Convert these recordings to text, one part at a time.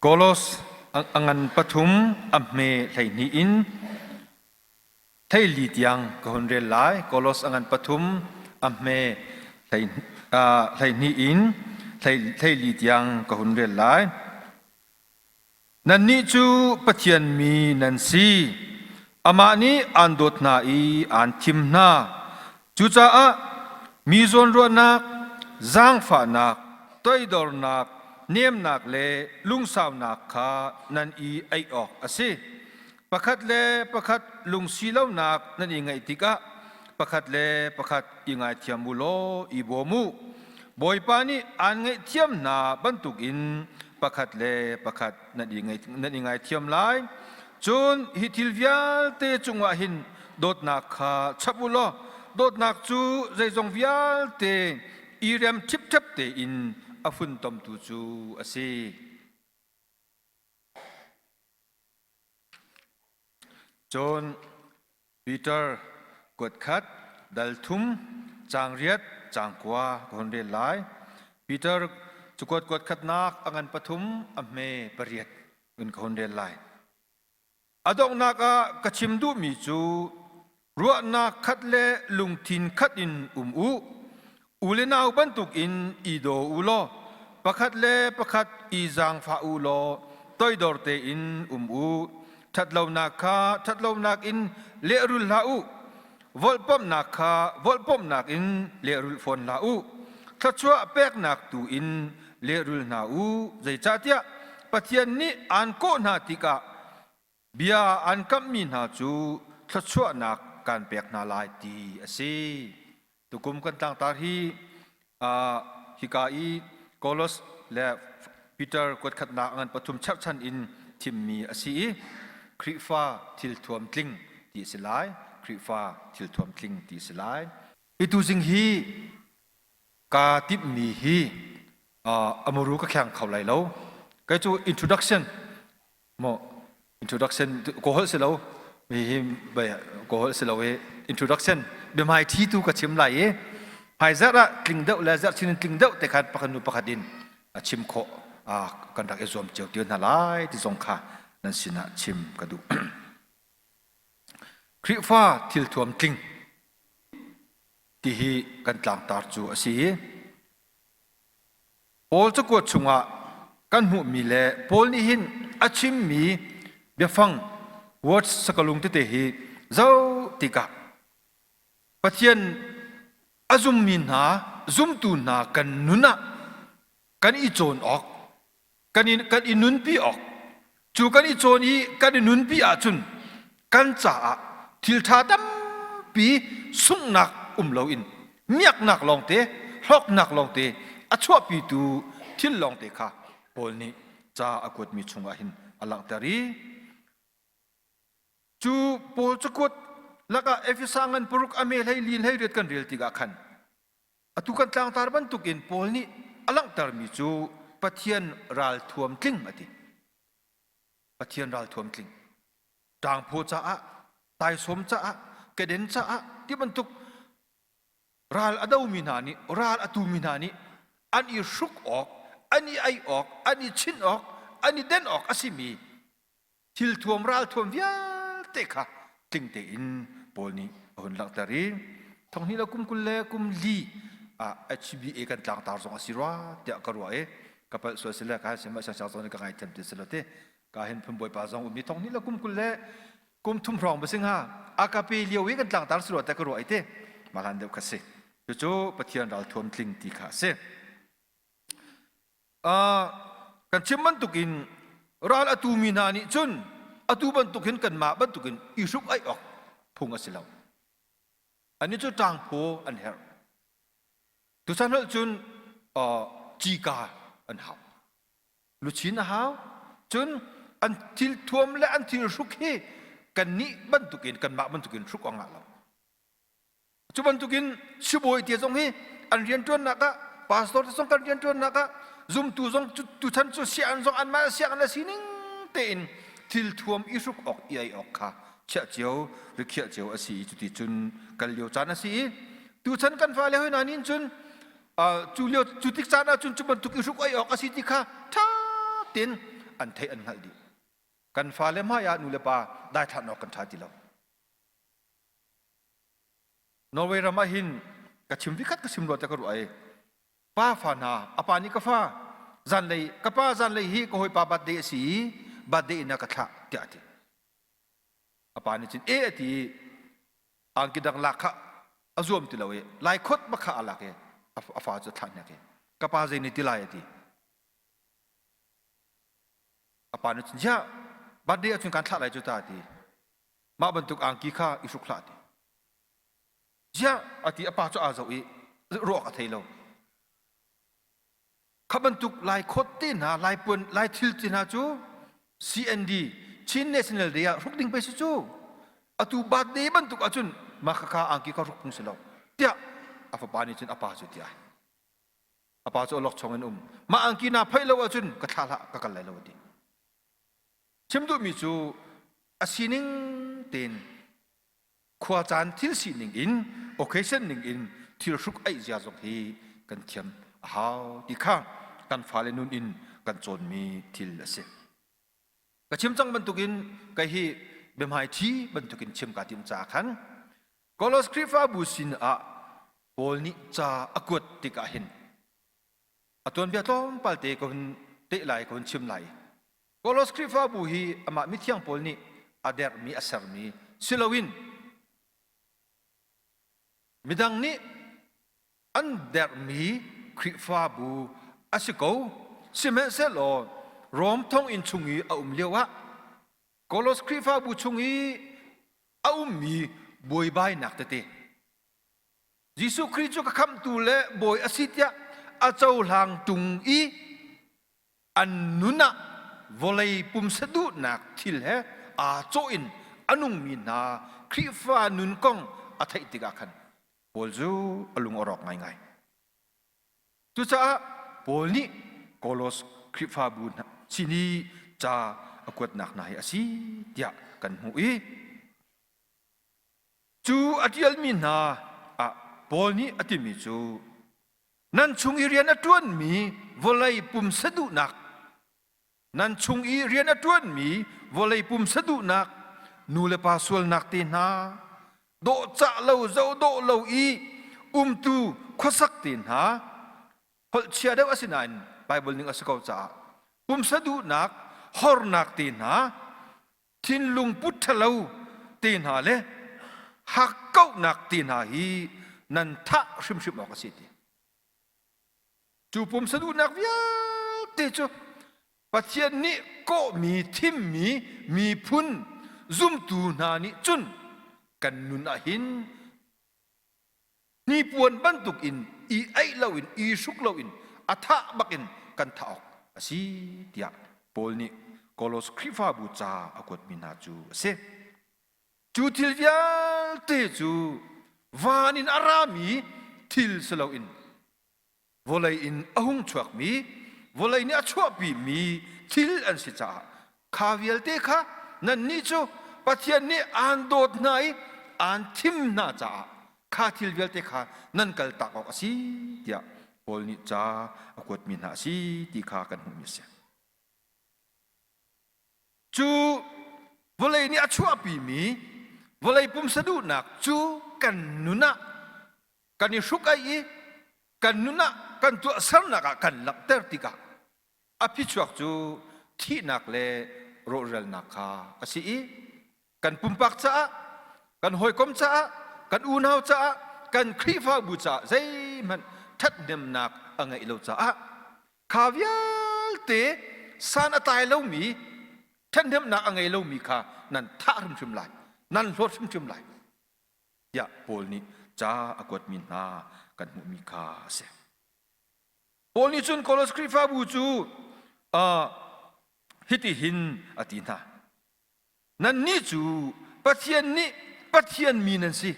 Kolos a ngan pathum a hme hleihnih in theili tiang ka hun rel lai. Kolos a ngan pathum a hme hleihnih in theili tiang ka hun rel lai. Nannih cu Pathian mi nan si. Amah nih aan dawt hna i aan thim hna. Cucaah mi zawnruahnak, zaangfahnak, toidornak, nemnak le lungsaunak kha nan i aih awk a si. Pakhat le pakhat lungsi lonak nan i ngaih tikah pakhat le pakhat i ngaithiam u law i bawm u. Bawipa nih aan ngaihthiam hna bantukin pakhat le pakhat nan i ngaithiam lai cun hi thil vialte cungah hin dawtnak kha chap u law dawtnak cu zeizong vialte i rem ṭhipṭhep tein a funtomtu cu a si. Cun Peter, kuat khat, dal thum, caang riat, caang kua ka hun rel lai. Peter cu kuat kuat khatnak a ngan pathum a hme pariat in ka hun rel lai. A donghnak ah ka chim duhmi cu ruahnak khat le lungthin khat in um u. U le nau bantukin i daw u law pakhat le pakhat i zaangfah u law toidor tein um u. Ṭhatlonak kha ṭhatlonak in lehrul hlah u. Volhpamhnak kha volhpamhnak in lehrul fawn hlah u. Thluachuah peknak tu in lehrul hna u. Zeicahtiah Pathian nih aan kawh hna tikah bia an kamhmi hna cu thluachuahnak kan pek hna lai ti a si. Tukum kan tlangtar hi hika i Kolos le Peter kuatkhatnak ngan pathum cherhchan in thimmi a si i Khrihfa thil thuam tling ti a si lai. Khrihfa thil thuam tling ti a si lai. Hi tuzing hi kaa timhmi hi a muru ka kheng kho lai lo. Kei cu introduction Mo introduction ko hol silo mi hi bai ko hol silo e introduction bimai thi tu ka chim lai e hai zara tling deuh le zar chin tling deuh te khan pakhat nu pakhat in a chim kho a kan rak i zuam cheu tiu na lai ti zong kha nan sinah chim ka du Krifa thil thuam tling ti hi kan tlang tar cu a si Paul cakuat chungah kan hmuhmi le Paul nih hin a chimmi biafang words sakalung tete hi zoh tikah Pathian a zummi hna zumtu hna kan nun ah kan i cawn awk kan i, kan i nunpi awk cu kan i cawn i kan i nunpi ahcun kan caah thilṭha tampi sunghnak um loin miaknak lawngte hlawknak lawngte a chuahpitu thil lawngte kha Paul nih ca a kuatmi chungah hin a langhter i cu Paul cakuat lakah Efesa ngan paruk a me hlei li hlei riat kan rel tikah khan Atu kan tlangtar bantukin Paul nih a langhtermi cu Pathian ralthuam tling a ti. Pathian ralthuam tling. Ṭangphaw caah, taisawm caah, keden caah ti bantuk ral a domi hna nih, ral a tumi hna nih an i hruk awk, an i ei awk, an i chinh awk, an i den awk a simi thil thuam ral thuam vialte kha tling tein Paul nih a hun langhter i thong hnih le kum kul le kum li ah HBA kan tlangtar zong a si rua tiah ka ruah i ka palh sual si le ka sin siangsiang zong ka ngai them ti si lo ti ka hin phun bawipa zong ummi thong hnih le kum kul le kum thum hrawng ba singa akape lio i kan tlangtar si rua te ka ruah i te malan deuh ka si cucu pathian ral thuam tling ti kha a si kan chim bantuk in ral a tu mi hna nih cun atu bantuk hin kanmah bantuk in i hruk aih awk phung a si lo ani cu ṭangphaw an herh tuchan holh cun cika an hau luchin a hau cun an thil thuam le an thil hruk hi kannih bantukin kanmah bantukin hruk awk ngah lo Cu bantukin sibawi te zong hi an rianṭuannak ah pastor te zong kan rianṭuannak ah zumtu zong tuchan cu sian zong anmah siang an sining tein thil thuam i hruk awk i ei awk kha chiah cio rikhiah cio a si i cuti cun kal lio caan a si i tuchan kan fale hoi hna nin cun cu lio cu tik caan ah cun cu bantuk i hruk ei awk a si ti kha ṭha tein an theih an hngalh dih kan fale hmai ah nu le pa dai ṭhan awk kan ṭha ti lo Norway ram ah hin ka chim vikhat ka chim rua te ka ruah ai pa fa hna apa nih ka fa zanlei ka pa zanlei hi ka hawipa birthday a si i birthday in a ka thlah tiah a ti apa nih cun e a ti i angki dang lak kha a zuam ti lo i lai khot ma kha a lak i a fa cu thlah hnek i ka pa zei nih ti lai a ti apa nih cun ya birthday ah cun kan thlah lai cu ta a ti mah bantuk angki kha i hruk hlah ti ziah a ti a pa cu aa zo i ruak a thei lo kha bantuk lai khawt te hna lai puan lai thil te hna cu CND Chin National Day ah ruk ding pe si cu atu bat de bantuk ahcun mah kha kha angki kha ruk phung si lo tiah a fapa nih cun a pa cu tiah a pa cu lok chong in um mah angki na phai lo ahcun ka thla hlah ka kal lai lo ti Chim duhmi cu a sining tein khuacaan thil sining in occasion ning in thil hruk aih zia zong hi kan thiam a hau ti kha kan fale nun in kan cawnmi thil a si. Ka chim cang bantukin kai hi biahmaithi bantukin chim ka tim ca khan Kolos Krifabu sin ah Paul nih ca a kuat tikah hin a tuanbia tlawmpal te ka hun teh lai ka hun chim lai Kolos Khrihfabu hi amah mithiang pawl nih a dermi a sermi si loin midang nih an dermi Khrihfabu a si ko sihmanhsehlaw Rom thonginn chung i a um lioah Kolos Khrihfabu chung i a ummi buaibainak tete Jesuh Khrih cu ka khamhtu le bawi a si tiah a cohlang ṭung i an nun ah vawlei pumsa duhnak thil he aa cawh in a nungmi hna Khrihfa nun kong a theih tikah khan Paul cu a lung a rawk ngaingai. Cucaah Paul nih Kolos Khrihfabu hna sin i ca a kuatnak hna hi a si tiah kan hmuh i Cu a ṭialmi hna ah Paul nih a timi cu nan chung i rian a ṭuanmi vawlei pumsa duhnak nan chung i rian a ṭuanmi vawlei pumsa duhnak nulepa sualnak te hna dawhcah lo zoh dawh lo i umtu khuasak te hna holhchia deuh a si nain Baibal ning a si ko caah pumsa duhnak hornak te hna thinlung put ṭhalo te hna le hakkauhnak te hna hi nan thah hrimhrim awk a si ti cu pumsan unnak vialte cu pathian nih kawhmi thimmi miphun zumtu hna nih cun kan nun ah hin Hnipuan bantuk in i aih loin i hruk loin a tha bak in kan thah awk a si tiah Paul nih Kolos Khrihfabu ca a kuatmi hna cu a si. Cu thil vialte cu van in a rami thil si loin vawlei in a hung chuakmi vawlei nih a chuahpimi thil an si caah kha vialte kha nannih cu Pathian nih aan dawt hna i aan thim hna caah kha thil vialte kha nan kaltak awk a si tiah Paul nih ca a kuatmi hna a si ti kha kan hmuhmi a si. Cu vawlei nih a chuahpimi vawlei pumsa duhnak cu kan nun ah kan i hruk ai i kan nun ah kan tuahsernak ah kan langhter tikah a phichuak cu thihnak le rawhralnak kha a si i kan pumpak caah kan hawikom caah kan unau caah kan Khrihfabu caah zeihmanh ṭhathnemnak a ngeih lo caah kha vialte san a tlai lomi ṭhathnemnak a ngei lomi kha nan thah hrimhrim lai nan hlawt hrimhrim lai tiah Paul nih ca a kuatmi hna kan hmuhmi kha a si. Paul nih cun Kolos Khrihfabu cu uh, hitihin a ti hna. Nannih cu Pathian nih Pathian mi nan si.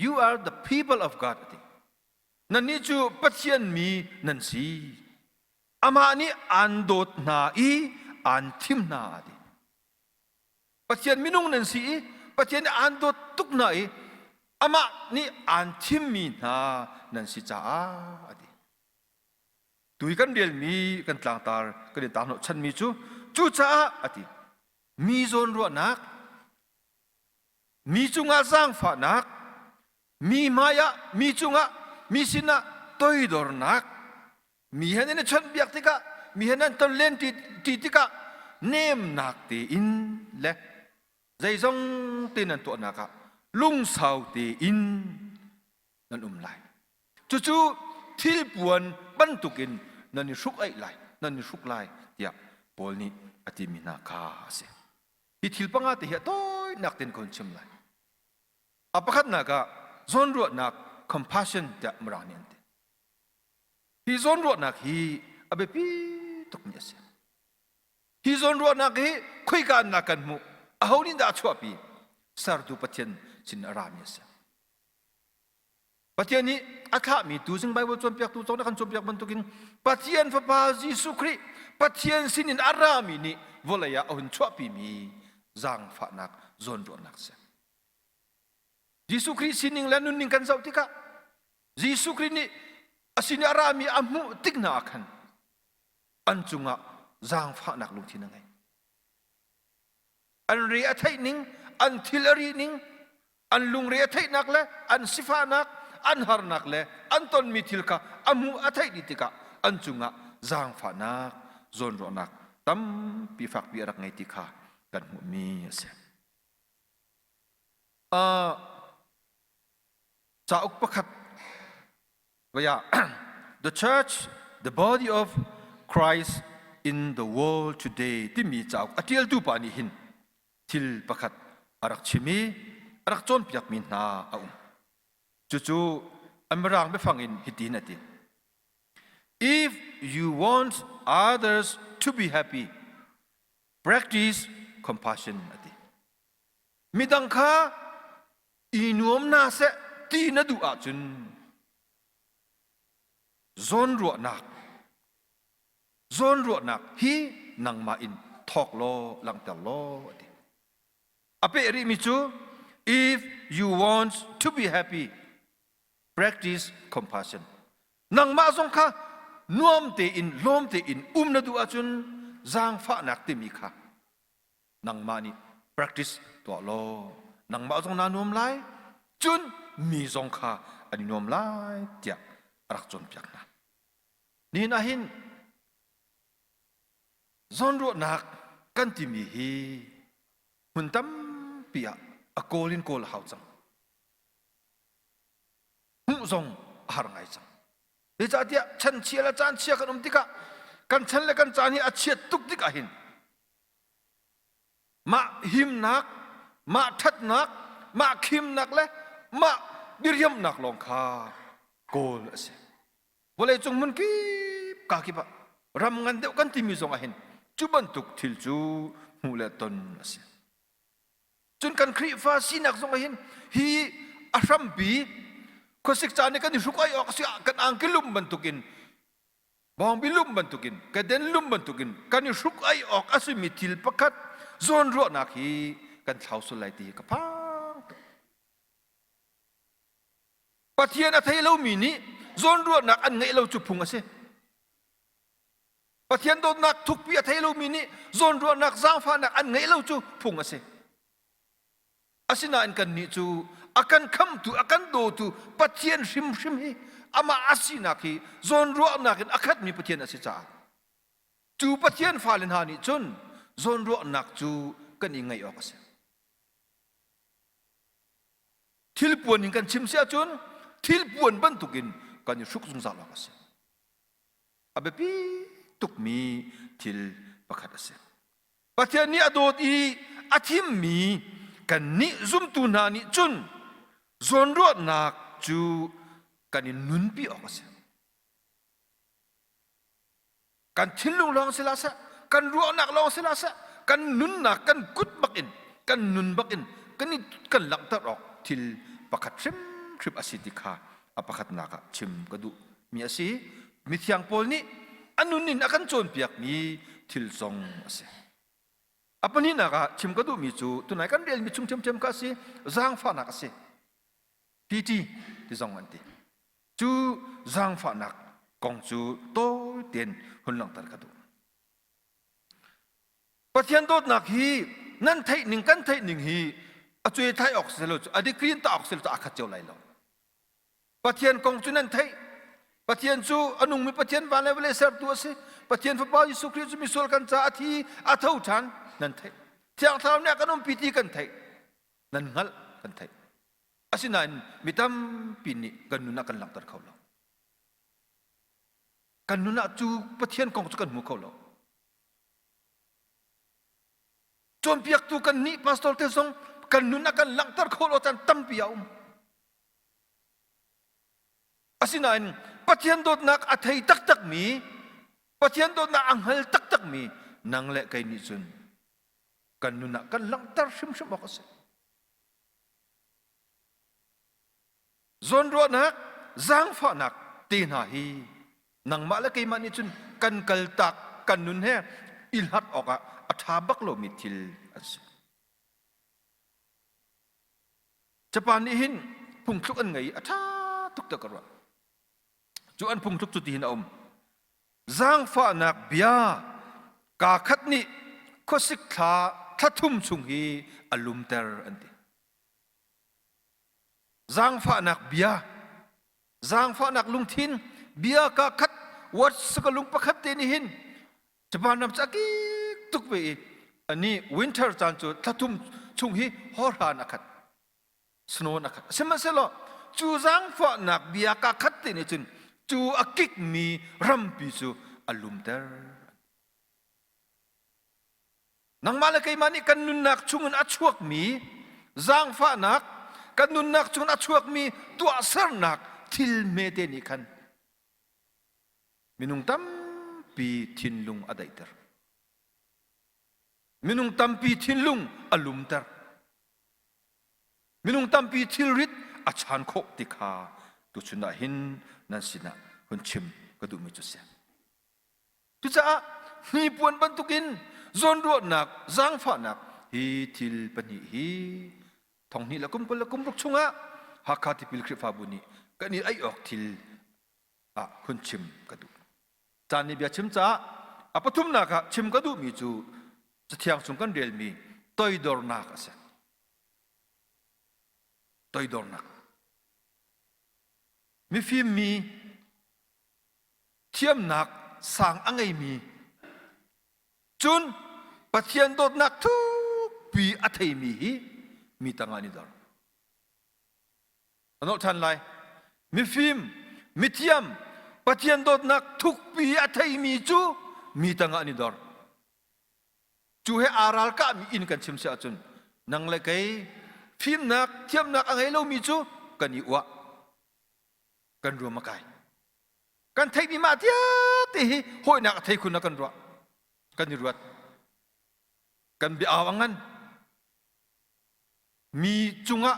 You are the people of God. A ti. Nannih cu Pathian mi nan si. Amah nih aan dawt hna i aan thim hna. A ti. Pathian minung nan si i Pathian nih aan dawt tuk hna i amah nih aan thimmi hna nan si caah a ti. Tu i kan relmi kan tlangtar kan i tar hnawhchanmi cu cucaah a ti. Mi zawn ruahnak mi cungah zaangfahnak mi hmaiah mi cungah mi sinah toidornak mi hen in a chawnhbiak tikah mi hen an ton len ti, ti tikah nemnak tein le zeizong te nan tuahnak ah lungsau tein nan um lai cucu thilpuan bantukin nan i hruk ai lai nan i hruk lai tiah Paul nih a timi hna kha a si Hi thil panga te hi a tawinak ten ka hun chim lai. A pakhatnak ah zawnruahnak compassion tiah Mirang nih an ti. Hi zawnruahnak hi a biapi tukmi a si. Hi zawnruahnak hi khuikannak kan hmuh aho nih dah a chuahpi? Sertu Pathian sin a rami a si. Pathian nih a thlahmi tuzing Baibal cawnpiaktu cawk na kan cawnpiak bantukin Pathian Fapa Jesuh Khrih Pathian sinin a rami nih vawlei ah a hun chuahpimi zaangfahnak zawnruahnak si. Jesuh Khrih sining le nunning kan zoh tikah Jesuh Khrih nih a sin i a rami a hmuh tik hna ah khan an cungah zaangfahnak lungthin a ngei. an re a theih ning an thil a ri ning an lungre a theihnak le an sifahnak an harnak le an tonmi thil kha a hmu a theih dih tikah an cungah zaangfahnak zawnruahnak tampi fakpi a rak ngei ti kha kan hmuhmi a si. Uh, cauk pakhat The church, the body of Christ in the world today timi cauk a ṭialtu pa nih hin thil pakhat a rak chim i a rak cawnpiakmi hna a um. Cucu Mirang biafang in hitin a ti. If you want others to be happy, practice compassion ati. midang kha i nuam na seh ti na duh ahcun zawnruahnak zawnruahnak hi nangmah in thawk law langhter law ti a peh rihmi cu if you want to be happy practice compassion nangmah zong kha nuam tein lawm tein um na duh ahcun zaangfahnak timi kha nangmah nih practice tuah law nangmah zong naa nuam lai cun mi zong kha an i nuam lai tiah a rak cawnpiak hna nihin ah hin zawnruahnak kan timi hi hmun tampi ah a kawl in kawl a hau cang hmuh zong a har ngai cang zeicahtiah chanchia le caan chia kan um tikah kan chan le kan caan hi a chiat tuk tik ahhin Mah himnak, mah ṭhatnak, mah khimnak le mah diriamnak lawng kha kawl a si. Vawleicung hmun kip kaa kip ah ram ngan deuh kan timi zong ah hin cu bantuk thil cu hmuh le ton a si. Cun kan Khrihfa sinak zong ah hin hi a hrampi khuasik caan i kan i hruk ai awk a si ah kan angki lum bantukin Bawngbi lum bantukin, kaden lum bantukin kan i hruk ai awk a simi thil pakhat zawnruahnak hi kan thlau sul lai ti ka phang tuk. Pathian a thei lomi nih zawnruahnak an ngeih lo cu phung a si. Pathian dawtnak thukpi a thei lomi nih zawnruahnak zaangfahnak an ngeih lo cu phung a si. Asinain kannih cu a kan khamtu, a kan dawtu Pathian hrimhrim hi amah a sinak hi zawn ruahnak in a khatmi Pathian a si caah cu Pathian fale hna nih cun zawn ruahnak cu kan i ngaih awk a si. Thilpuan in kan chim si ahcun thilpuan bantukin kan i hruk zungzal awk a si. A biapi tukmi thil pakhat a si. Pathian nih a dawt i a thimmi kannih zumtu hna nih cun zawnruahnak cu kan in nunpi awk a si. Kan thinlung lawng si la seh, kan ruahnak lawng si la seh, kan nunnak kan kut bak in, kan nun bak in kan, kan langhter awk thil pakhat hrimhrim a si ti kha a pakhatnak ah chim ka duh mi a si mithiang paul nih a nun in a kan cawnpiak mi thil zong a si a pahnihnak ah chim ka duh mi cu tunai kan rel mi chung ṭhiamṭhiam kha a si zaangfahnak a si pt ti zong an ti cu zaangfahnak kong cu tawi tein hun langhter ka duh Pathian dawtnak hi nan theih ning kan theih ning hi a cuai thai awk si lo cu a decree in ta awk si lo cu aa khat cio lai lo. Pathian kong cu nan theih. Pathian cu a nungmi Pathian van le vale sertu a si. Pathian Fapa Jesuh Khrih cu misual kan ca a thi, a tho ṭhan, nan theih. Thiang Thlarau nih a kan umpi ti kan theih. Nan hngalh, kan theih. Asinain mi tampi nih kan nun ah kan langhter kho lo. Kan nun ah cu Pathian kong cu kan hmu kho lo. Cawnpiaktu kan nih pastor te zong kan nun a kan langhter khawh lo caan tampi a um. Asinain Pathian dawtnak a thei taktakmi, Pathian dawtnak a hngal taktakmi nang le kei nih cun kan nun ah kan langhter hrimhrim awk a si. Zawnruahnak, zaangfahnak te hna hi nangmah le keimah nih cun kan kaltak kan nun he i hlat awkah a ṭha bak lomi thil an si. Japan nih hin phungthluk an ngei a ṭha tuk ta ka ruah. Cu an phungthluk cu tihin a um. Zaangfahnak bia kaa khat nih khuasik thla thla thum chung hi a lumter an ti. Zangfahnak bia. Zangfahnak lungthin bia ka khat words ka lung pakhat te ni hin Japan ram cha kik tuk ve i ani winter caan cu thlathum chung hi horhan a khat snow a khat sihmanhsehlaw cu zangfahnak bia ka khat te nih cun cu a kik mi rampi cu a lumter nangmah le keimah nih kan nunnak chungin a chuakmi zaangfahnak kan nunnak chungin a chuakmi tuahsernak thil hmete nih khan minung tampi thinlung a daihter minung tampi thinlung a lumter minung tampi thilrit a chan khawh ti kha tuchun ah hin nan sinah hun chim ka duhmi cu si Cucaah hnipuan bantukin zawnruahnak zaangfahnak hi thil pahnih hi thonghnih la kum kul la kum ruk chungah Hakha tipil Khrihfabu nih kan i aih awk thil ah hun chim ka duh. Caan nih bia chim caah a pathumnak ah chim ka duhmi cu Cathiang chung kan relmi toidornak a si. Toidornak. Mifim mi thiamnak sang a ngeimi cun Pathian dawtnak thukpi a theimi hi mi tangah ni dor a than lai mifim mithiam Pathian dawtnak thukpi a theimi cu mi tangah ni dor cu he aral kahmi in kan chim si ahcun nang le kei fimnak thiamnak a ngei lomi cu kan i uah kan ruam a kai kan theihmi mah tiate hi hawinak a thei khun na kan ruah kan i ruat kan bia au ngan mi cungah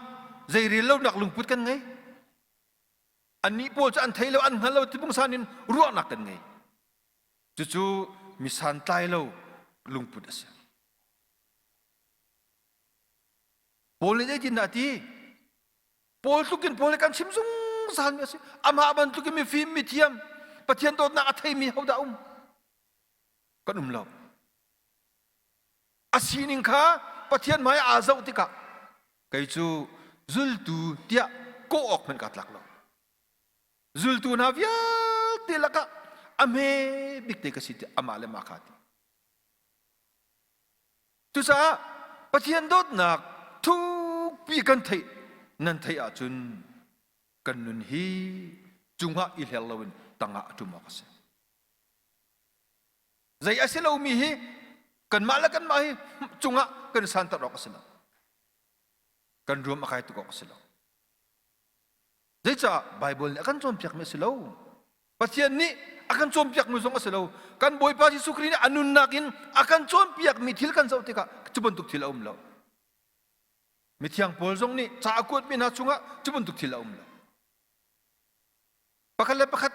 zeirel lonak lungput kan ngei annih pawl cu an thei lo an hngal lo tibungsan in ruahnak kan ngei cucu misan tlai lo lungput a si paul nih zeitin dah ti pawl tlukin pawl kan chim zungzal mi a si amah bantukin mifim mithiam pathian dawtnak a theimi hodah um kan um lo a sining kha pathian hmai aa zoh tikah kei cu zultu tiah kawh awk hmanh ka tlak lo zultu hna vialte lakah a hme bik te ka si ti amah le ma kha ti Cucaah Pathian dawtnak thukpi kan theih nan theih ahcun kan nun hi cungah i hler loin tangah a ṭum awk a si. Zei a si lomi hi kanmah le kanmah hi cungah kan santer awk a si lo. Kan ruam a kai tuk awk a si lo. Zeicah Baibal nih a kan cawnpiakmi a si lo? Pathian nih a kan cawnpiakmi zong a si lo. Kan Bawipa Jesuh Khrih nih a nunnak in a kan cawnpiakmi thil kan zoh tikah cu bantuk thil a um lo. Mithiang Paul zong nih ca a kuatmi hna chungah cu bantuk thil a um lo. Pakhat le pakhat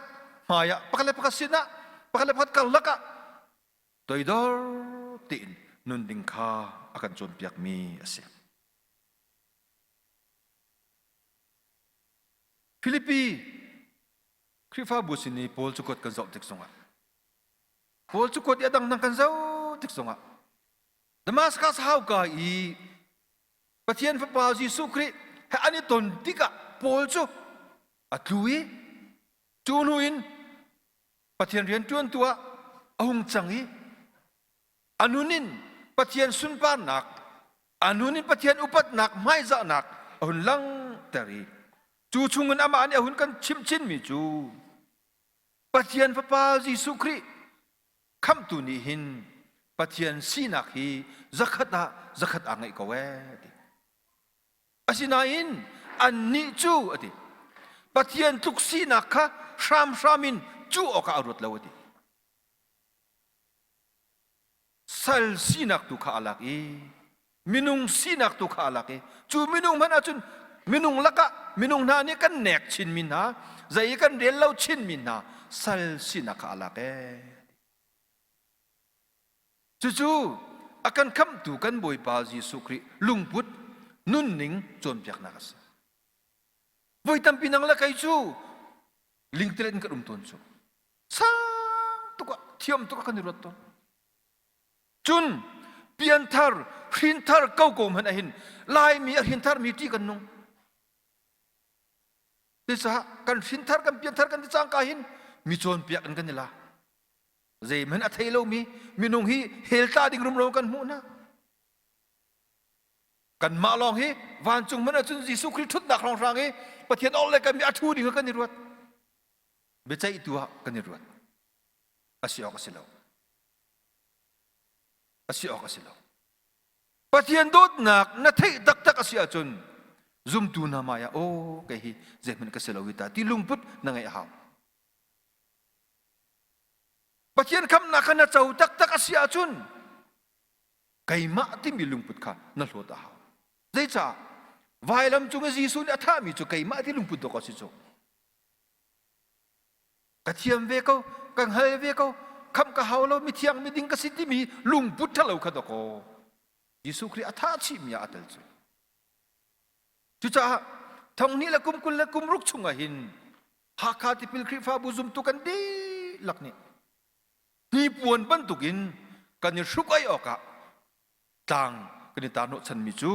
hmaiah, pakhat le pakhat sinah, pakhat le pakhat karlak ah toidor tein nun ding kha a kan cawnpiakmi a si. Filipi Khrihfabu sin i Paul cu kuat kan zoh tik zongah Paul cu kuat i a dang dang kan zoh tik zongah Damaskas hauka i Pathian Fapa Jesuh Khrih he an i ton tikah Paul cu a tlu i cu hnu in Pathian rianṭuantu ah a hung cang i anun in pathian sunparnak anun in pathian upatnak hmaizahnak a hun lang ter i cu chungin amah nih a hun kan chimchin mi cu pathian fapa jesuh khrih khamtu nih hin pathian sinak hi zakhat ah zakhat aa ngeih ko ee ti asinain annih cu ati pathian tluk sinak kha hramhram in cuh awkah a ruat lo ati sal sinak tu kha a lak i minung sinak tu kha a lak i cu minung hmanh ah cun minung lakah minung hna nih kan nek chinmi hna zei i kan rel lo chinmi hna sal sinak kha a lak ee cucu a kan khamhtu kan bawipa jesuh khrih lungput nunning cawnpiaknak a si voi tampi nang le kei cu lingtlet in kan um tawn cu sang tuk ah thiam tuk ah kan i ruat tawn cun pianthar hrinthar kokawm han ahin laimi a hrinthar mi ṭi kan nung cucaah kan hrinthar kan pianthar kan ti cangka hin mi cawnpiak in kan i la zeimen a thei lomi minung hi heltla ding rumro kan hmuh na kanmah lawng hi vancung man ahcun Jesuh Khrist ṭhutnak hrawng hrang i Pathian ol le kan mi a ṭhu ding kan i ruat biaceih tu ah kan i ruat asi awk asi lo asi awk asi lo pathian dawtnak na theih taktak asi ahcun zumtu hna mai ah aw kei hi zeihmanh ka si lo ta ti lungput na ngeih a hau pathian khamnak kha na co taktak asi ahcun keimah timi lungput kha na hlawt a hau zeicah vailam cung i Jesuh nih a thahmi cu keimah ti lungput dawk a si cu ka thiam ve ko ka hngal ve ko kham ka hau lo mithiang miding ka si timi lungput ṭhalo kha dok aw Jesuh Khrih a tha chihmi ah a tel cu cucaah thonghni le kum kul le kum ruk chung ah hin Hakha tipil Khrihfabu zumtu kan dihlak nih hnipuan bantuk in kan i hruk ai awk ah tlang kan i tar hnawhchanmi cu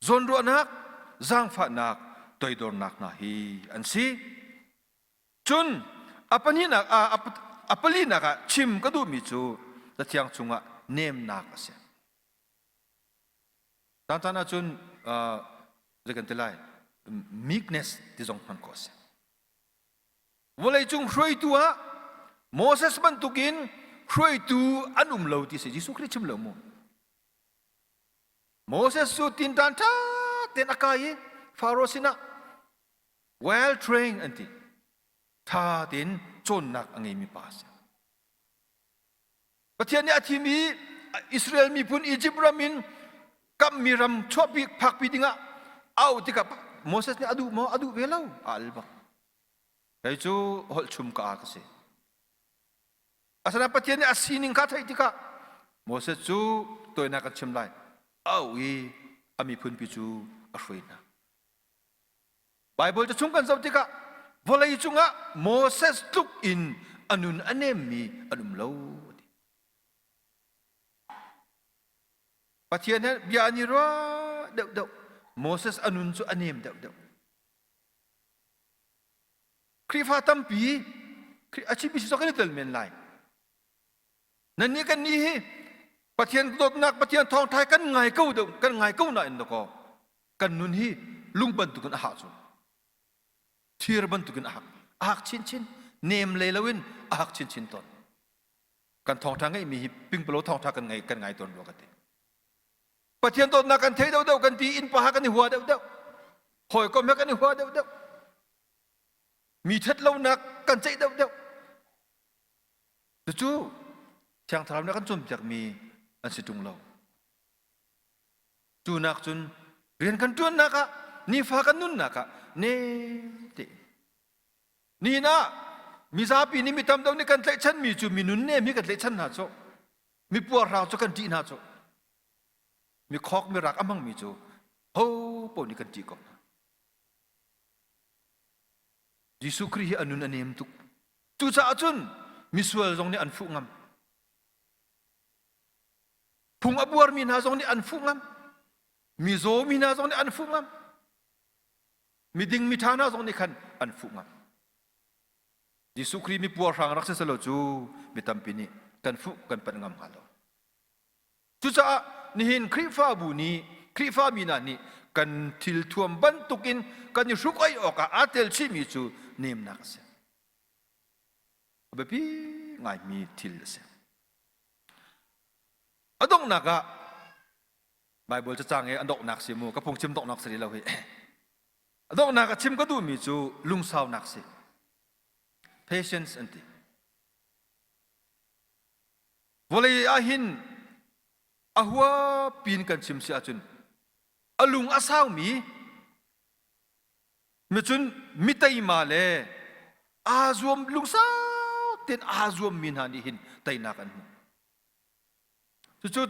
zawnruahnak zaangfahnak toidornak hna hi an si cun a pahnihnak ah a palinak ah chim ka duhmi cu cathiang chungah nemnak a si tangtan ahcun zei kan ti lai meekness ti zong hman ko a si vawleicung hruaitu ah moses bantukin hruaitu an um lo ti si jesuh khrih chim lo mu Moses cu tinṭan ṭha tein a kai i Faro sinah well trained an ti. Ṭha tein cawnnak a ngeimi pa a si. Pathian nih a thim i Israel miphun Izipt ram in kammi ram chuahpi phakpi dingah a auh tikah Moses nih a duh maw? A duh ve lo. A al bak. Kei cu holh chung ka ka si. Asinain Pathian nih a sining kha a theih tikah Moses cu tawinak a chim lai au i a miphunpi cu a hruai hna. Baibal cachung kan zoh tikah vawlei cungah Moses tluk in a nun a nemmi an um lo. Pathian he bia an i rua deuhdeuh. Moses a nun cu a nem deuhdeuh. Khrihfa tampi a cimi si kan i tel men lai. Nannih kan nih hi Pathian dawtnak Pathian thawngthai kan ngai ko deuh kan ngai ko nain dawko kan nun hi lung bantukin a hak cu thir bantukin a hak a hak chinchin nem lei loin a hak chinchin tawn kan thawngtha ngeihmi hi pingpalo thawngtha kan ngai kan ngai tawn rua ka ti Pathian dawtnak kan thei deuhdeuh kan ti inn paha kan i hua deuhdeuh hawikom he kan i hua deuhdeuh mi ṭhatlonak kan ceih deuhdeuh cucu thiangthlarau nih kan cawnpiakmi an si ṭung lo cu nak cun rian kan ṭuannak ah nifa kan nunnak ah ne te ni na mizapi nih mi tam deuh nih kan tlaihchanmi cu minun nem hi kan tlaihchan hna sawh Mi puarhrang cu kan ṭih hna cu. Mi khawk mi rak a hmangmi cu ho pawl nih kan ṭih ko hna. Jesuh Khrih hi a nun a nem tuk. Cucaah cun misual zong nih an fuh ngam. Phung a buarmi hna zong nih an fuh ngam. Mi zaw mi hna zong nih an fuh ngam. Mi ding mi ṭha hna zong nih khan an fuh ngam. Jesuh Khrih mipuarhrang rak si selaw cu mi tampi nih kan fuh kan panh ngam hnga lo. Cucaah nihin Khrihfabu nih Khrihfami hna nih kan thil thuam bantuk in kan i hruk oih awkah aa tel chihmi cu nemnak a si. A biapi ngaimi thil a si. A donghnak ah Baibal cacang i a donghnak si mu ka phungchim donghnak sari lo hi Donghnak a chim ka duhmi cu lungsaunak si. Patience an ti. Vawlei ah hin a hua pin kan chim si ahcun a lung a saumi micun miteima le aa zuam lungsau tein aa zuammi hna nih hin teinak an hmu. Cucu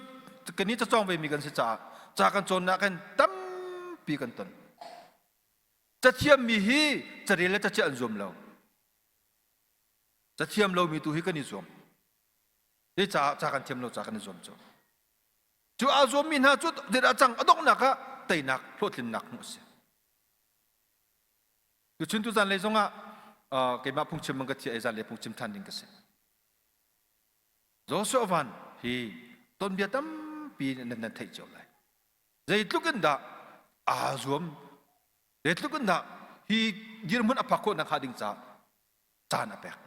kan i cacawng vemi kan si caah ca kan cawnnak hin tampi kan ton. Cathiammi hi carel le caciah an zuam lo. Cathiam lomi tu hi kan i zuam. Hi ca, ca kan thiam lo, ca kan i zuam cu. Cu aa zuammi hna cu a cang a donghnak ah teinak hlawhtlinnak hmuh a si. Tuchin tu zanlei zongah keimah phungchim man ka thiah i zanlei phungchim ṭhan ding ka si. Joshua van hi tonbia tampi in nan theih cio lai. Zeitluk in dah aa zuam, zeitluk in dah hi dirhmun a phak khawh nak hnga ding caah caan a pek,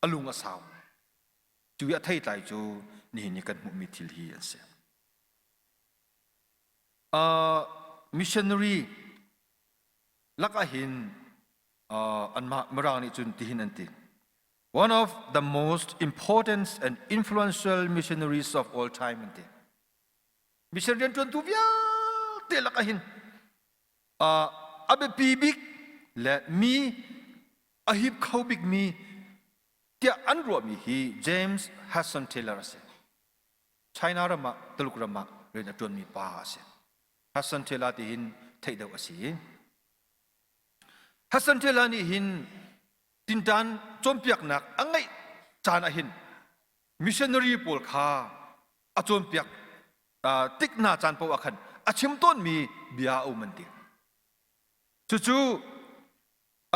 a lung a sau. Cu i a thei tlai cu nihin ni kan hmuhmi thil hi an si. Uh, missionary lakah hin uh, anmah mirang nih cun tihin an ti. One of the most important and influential missionaries of all time an ti. Mission rian tuantu vialte lak ahin uh, a biapi bik le mi a hip kho bik mi tia an ruahmi hi James Hudson Taylor a si. China ramah Tuluk ramah rian a tuanmi pa a si. Hudson Taylor ti hin theih deuh a si. Hudson Taylor nih hin tinṭan cawnpiaknak a ngeih caan ahhin missionary pawl kha a cawnpiak tik hna caan paoh ah khan a chim tawnmi bia a um an ti. Cucu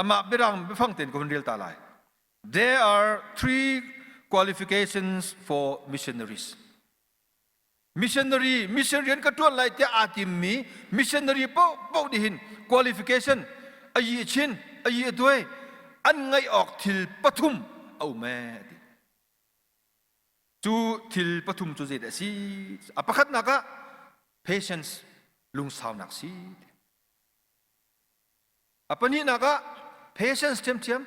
amah birang biafang tein kan rel ta lai. There are three qualifications for missionaries. missionary mission rian ka ṭuan lai tiah aa timmi missionary paohpaoh nih hin qualification ayi a chin ayi a tuai an ngaih awk thil pathum a um ee ti cu thil pathum cu zeidah a si a pakhatnak ah patience lungsaunak si a pahnihnak ah patience thiamthiam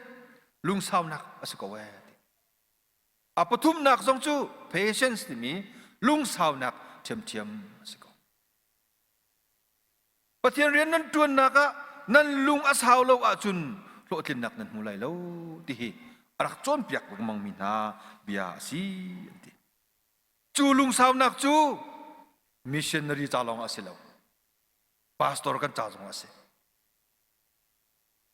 lungsaunak a si ko ee A pathumnak zong cu patience timi lungsaunak ṭhiamṭhiam a si ko. Pathian rian nan ṭuannak ah nan lung a sau lo ahcun hlawhtlinnak nan hmu lai lo ti hi a rak cawnpiak lengmangmi hna bia a si an ti. Cu lungsaunak cu missionary ca lawng ah a si lo. Pastor kan ca zong ah a si.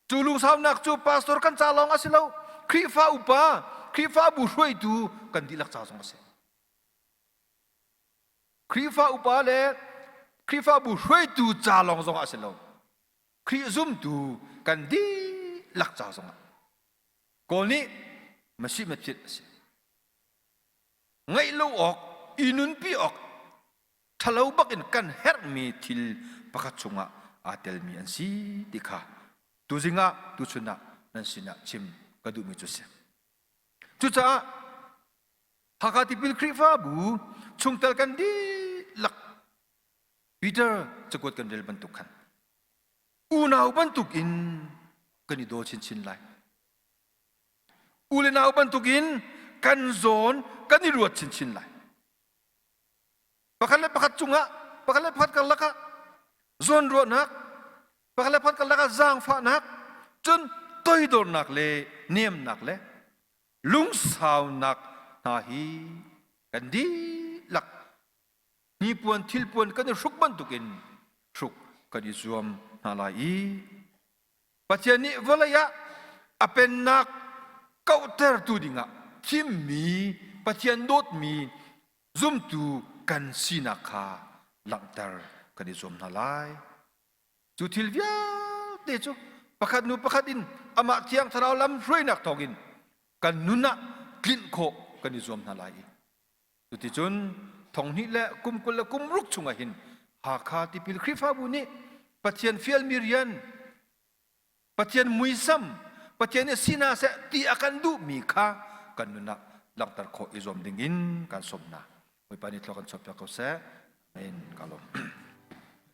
Cu lungsaunak cu pastor kan ca lawng a si lo, Khrihfa upa, Khrihfabu hruaitu kan dihlak ca zong a si. Khrihfa upa le Khrihfabu hruaitu ca lawng zong ah a si lo. Khrih zumtu kan dihlak ca zong ah. Kawl nih masi mafit a si. Ngaih lo awk, i nunpi awk, ṭhalo bakin kan herhmi thil pakhat chungah aa telmi an si ti kha tuzing ah tuchun ah nan sinah chim ka duhmi cu si. Cucaah Hakha tipil Khrihfabu chungtel kan dihlak Peter cakuat kan rel bantuk khan unau bantukin kan i daw chinchin lai. U le nau bantukin kan zawn kan i ruat chinchin lai. pakhat le pakhat cungah pakhat le pakhat karlak ah zawnruahnak pakhat le pakhat karlak ah zaangfahnak cun toidornak le niamnak le lungsaunak hna hi kan dihlak hnipuan thilpuan kan i hruk bantukin hruk kan i zuam hna lai i Pathian nih vawlei ah a pennak kauhtertu dingah thimmi Pathian dawtmi zumtu kan sinak kha langhter kan i zuam hna lai. Cu thil vialte cu pakhat hnu pakhat in amah thiang thlarau lamhruainak thawngin kan nun ah tlinh khawh kan i zuam hna lai i Cuticun thonghnih le kum kul le kum ruk chungah hin Hakha tipil Khrihfabu nih Pathian fialmi rian, Pathian muisam, Pathian i si hna seh ti a kan duhmi kha kan nun ah langhter khawh i zuam dingin kan sawm hna. Bawipa nih thla kan chuahpiak ko seh. Amen. Ka lawm.